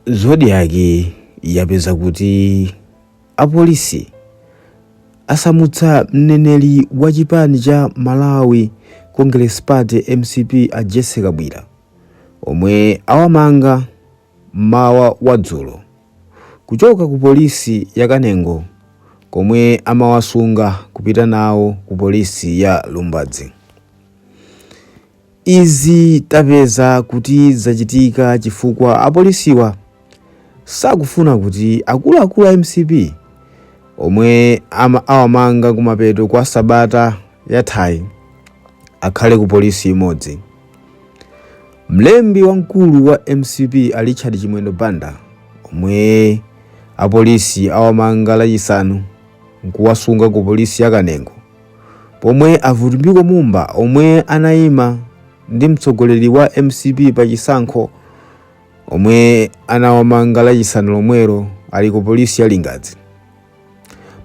zodiak yapeza kuti apolisi asamutsa mneneri wa chipani cha malawi congress party mcp a jessie kabwila omwe awamanga mmawa wa dzulo kuchoka ku polisi ya kanengo komwe amawasunga kupita nawo ku polisi ya lumbadzi Izi tapeza kuti zachitika chifukwa apolisiwa sakufuna kuti akuluakulu a mcp omwe awamanga kumapeto kwa sabata yathayi akhale ku polisi imodzi. Mlembi wamkulu wa mcp a Richard Chimwendo Banda omwe apolisi awamanga lachisanu nkuwasunga ku polisi ya Kanengo Pomwe a Vitumbiko Mumba omwe anayima ndi mtsogoleri wa mcp pachisankho omwe anawamanga lachisanu lomwero ali ku polisi ya Lingadzi.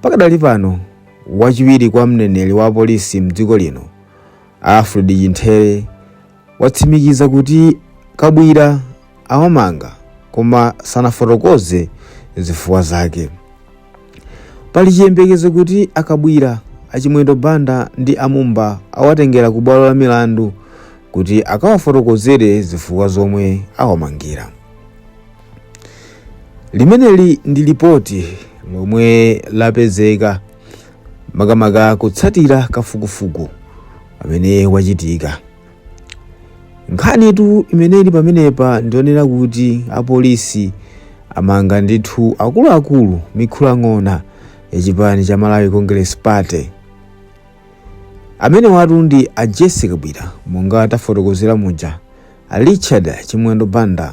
Pakadali pano wachiwiri kwa mneneri wa polisi mdziko lino a Alfred Chimthere watsimikiza kuti a Kabwila awamanga koma sanafotokoze zifukwa zake. Pali chiyembekezo kuti a Kabwila, a Chimwendo Banda ndi a Mumba awatengera ku bwalo la milandu kuti akawafotokozere zifukwa zomwe awamangira. Limeneli ndi lipoti lomwe lapezeka makamaka kutsatira kafukufuku amene wachitika nkhanitu imene ili pamenepa ndi yonena kuti apolisi amanga ndithu akuluakulu mikhalang'ona ya chipani cha malawi congress party amenewatu ndi a jessie kabwila monga tafotokozera muja a richard chimwendo banda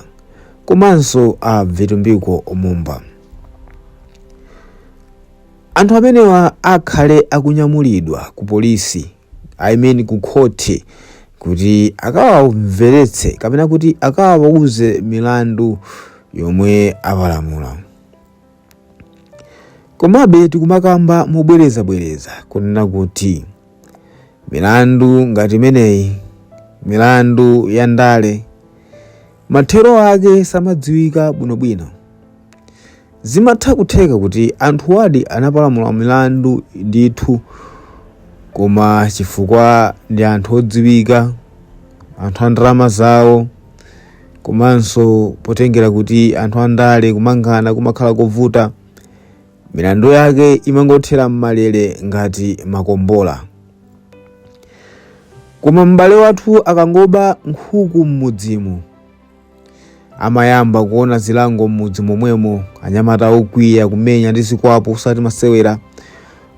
komanso a vitumbiko mumba Anthu amenewa akhale akunyamulidwa ku polisi, I mean ku khoti kuti akawamveretse kapena kuti akawauze milandu yomwe apalamula. Komabe tikumakamba mobwerezabwereza kunena kuti milandu ngati imeneyi, milandu ya ndale, Mathero ake samadziwika bwinobwino. Zimatha kutheka kuti anthuwadi anapalamula milandu ndithu koma chifukwa ndi anthu odziwika, anthu a ndalama zawo komanso potengera kuti anthu andale kumangana kumakhala kovuta, milandu yake imangothera m'malere ngati makombola koma m'bale wathu akangoba nkhuku m'mudzimu amayamba kuona zilango m'mudzi momwemo anyamata okwiya kumenya ndi zikwapu osati masewera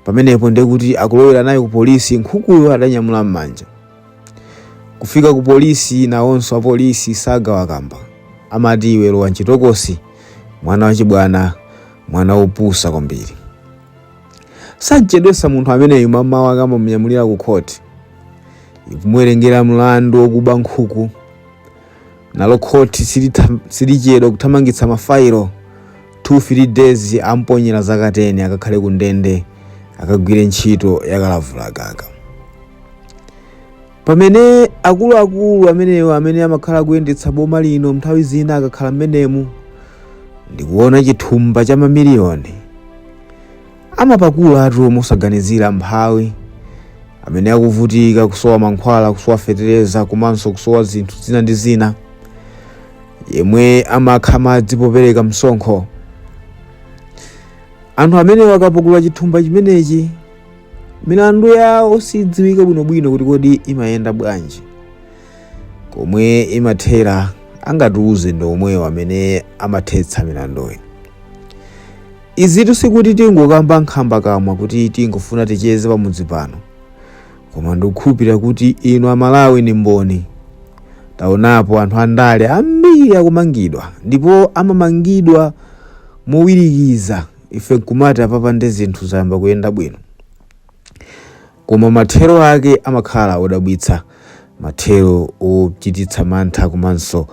pamenepo ndiye kuti akulowera naye ku polisi nkhukuyo adanyamula m'manja kufika ku polisi nawonso apolisi sagawakamba amati iwe lowa mchitokosi mwana wachibwana mwana wopusa kwambiri sachedwesa munthu ameneyu mamawa akamunyamulira ku khoti ikumuwerengera mlandu wokuba nkhuku nalo khoti silichedwa kuthamangitsa mafailo 2-3 days amponyera zaka 10 akakhale ku ndende akagwire ntchito yakalavula gaga Pamene akuluakulu amenewo amene amakhala kuyendetsa boma lino nthawi zina akakhala mmenemu ndikuona chithumba cha mamiliyoni amapakulatu mosaganizira mphawi amene akuvutika kusowa mankhwala kusowa fetereza komanso kusowa zinthu zina ndi zina yemwe amakha madzi popereka msonkho anthu amenewo akapakula chithumba chimenechi milandu yawo sidziwika bwinobwino kuti kodi imayenda bwanji komwe imathera angatiuze ndi omwewo amene amathetsa milanduyi izitu sikuti tingokamba nkhamba kamwa kuti tingofuna ticheze pamudzi pano koma ndikukhulupirira kuti inu amalawi ndi mboni taonapo anthu andale ambiri akumangidwa ndipo amamangidwa mowirikiza ife nkumati apapa nde zinthu zayamba kuyenda bwino koma mathero ake amakhala odabwitsa mathero ochititsa mantha komanso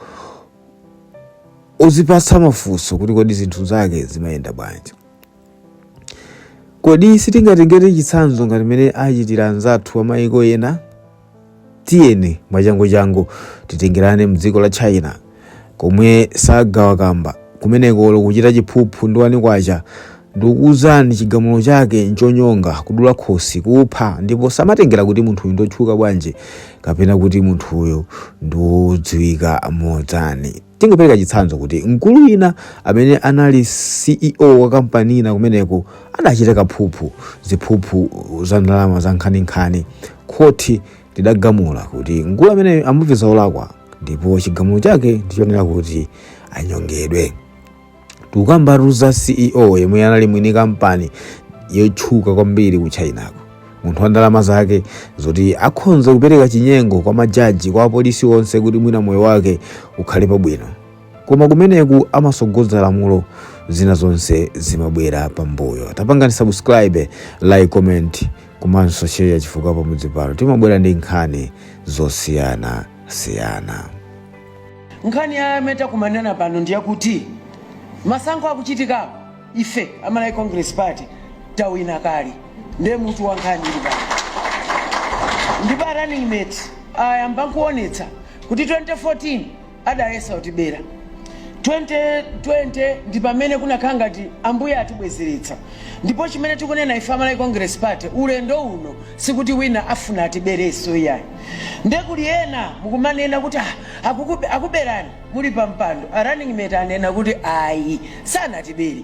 ozipatsa mafunso kuti kodi zinthu zake zimayenda bwanji kodi sitingatengere chitsanzo ngati mmene achitira anzathu amayiko ena tiyeni mwachanguchangu titengerane mdziko la china komwe sagawa kamba kumeneko olo kuchita chiphuphu ndi wani kwacha ndikuuzani chigamulo chake nchonyonga kudula khosi kupha ndipo samatengera kuti munthuyu ndotchuka bwanji kapena kuti munthuyu ndiwodziwika motani Tingopereka chitsanzo kuti mkulu wina amene anali CEO wa kampani ina kumeneko adachita kaphuphu, ziphuphu za ndalama za nkhaninkhani. Khoti lidagamula kuti mkulu ameneyo amupeza olakwa ndipo chigamulo chake ndichonena kuti anyongedwe. Tukambatu za CEO yemwe anali mwini kampani yotchuka kwambiri ku Chinako. Munthu wa ndalama zake zoti akhonza kupereka chinyengo kwa majaji kwa apolisi onse kuti mwina moyo wake ukhale pabwino. Koma kumeneku amasogoza lamulo zina zonse zimabwera pambuyo. Tapangani subscribe, like, comment komanso share chifukwa pamudzi pano timabwera ndi nkhani zosiyana siyana. nkhani yomwe takumanirana pano ndiye kuti masankho akuchitikawo ife amalawi congress party tawina kale ndiye mutu wa nkhani ili pano ndipo a running mate ayamba nkuonetsa kuti 2014 adayesa kutibera 2020 ndi pamene kunakhala ngati ambuye atibwezeretsa ndipo chimene tikunena ife amalawi congress party ulendo uno sikuti wina afuna atibereso iyayi Nde kuli ena mukumanena kuti ah akukube, akuberani muli pa mpando a running mate anena kuti ayi sanatibere.